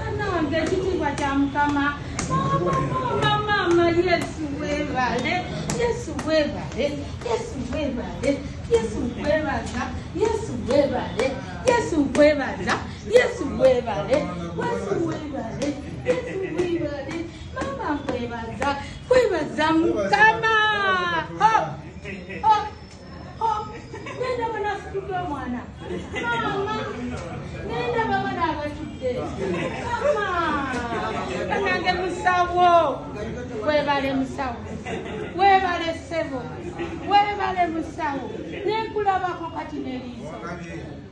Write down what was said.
anange ekitiibwa kya mukama mama yesu webale yesu webale yesu webale yesu webaza yesu webale yesu webaza Yesu webale, Yesu webale, Yesu webale, mama nkwebaza, kwebaza mukama. Ho, ho, ho, nenda bana situke omwana. Mama, nenda bamana abatudde. Mama, kanange musawo, webale musawo, webale sebo, webale musawo, nenkulabako kati neliiso.